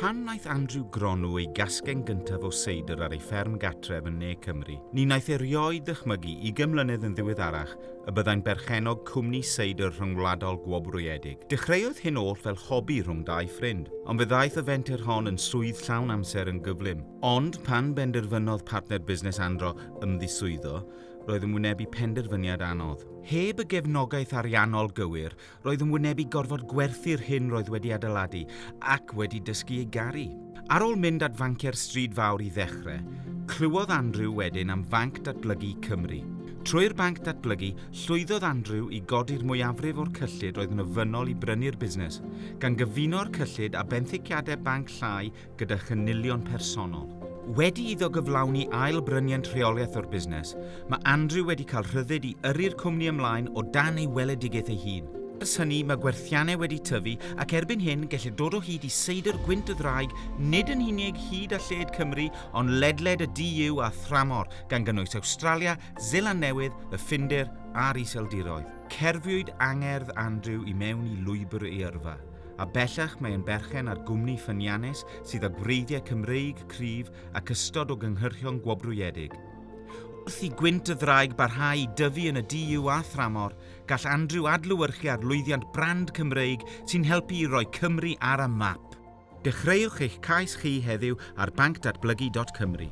Pan wnaeth Andrew gronu ei gasgen gyntaf o seidr ar ei fferm gartref yn Ne Cymru, ni wnaeth erioed ddychmygu ugain mlynedd yn ddiweddarach y byddai'n berchennog cwmni seidr rhyngwladol gwobrwyedig. Dechreuodd hyn oll fel hobi rhwng dau ffrind, ond fe ddaeth y fenter hon yn swydd llawn amser yn gyflym. Ond pan benderfynodd partner busnes Andro ymddiswyddo, roedd yn wynebu penderfyniad anodd. Heb y gefnogaeth ariannol gywir, Roedd yn wynebu gorfod gwerthu'r hyn roedd wedi adeiladu ac wedi dysgu ei garu. Ar ôl mynd at fanciau'r Stryd Fawr i ddechrau, clywodd Andrew wedyn am Fanc Datblygu Cymru. Trwy'r Banc Datblygu, llwyddodd Andrew i godi'r mwyafrif o'r cyllid roedd yn ofynnol i brynu'r busnes, gan gyfuno'r cyllid â benthyciadau banc llai gyda chynilion personol. Wedi iddo gyflawni ail bryniant rheoliaeth o'r busnes, mae Andrew wedi cael rhyddid i yrru'r cwmni ymlaen o dan ei weledigaeth ei hun. Ers hynny, mae gwerthiannau wedi tyfu ac erbyn hyn gellir dod o hyd i seidr gwynt y ddraig nid yn unig hyd a lled Cymru ond ledled y DU a thramor, gan gynnwys Awstralia, Seland Newydd, y Ffindir a'r Iseldiroedd. Cerfiwyd angerdd Andrew i mewn i lwybr ei yrfa, a bellach mae'n berchen ar gwmni ffyniannus sydd â gwreiddiau Cymreig cryf ac ystod o gynhyrchion gwobrwyedig. Wrth i gwynt y ddraig barhau i dyfu yn y DU a thramor, gall Andrew adlewyrchu ar lwyddiant brand Cymreig sy'n helpu i roi Cymru ar y map. Dechreuwch eich cais chi heddiw ar bancdatblygu.cymru.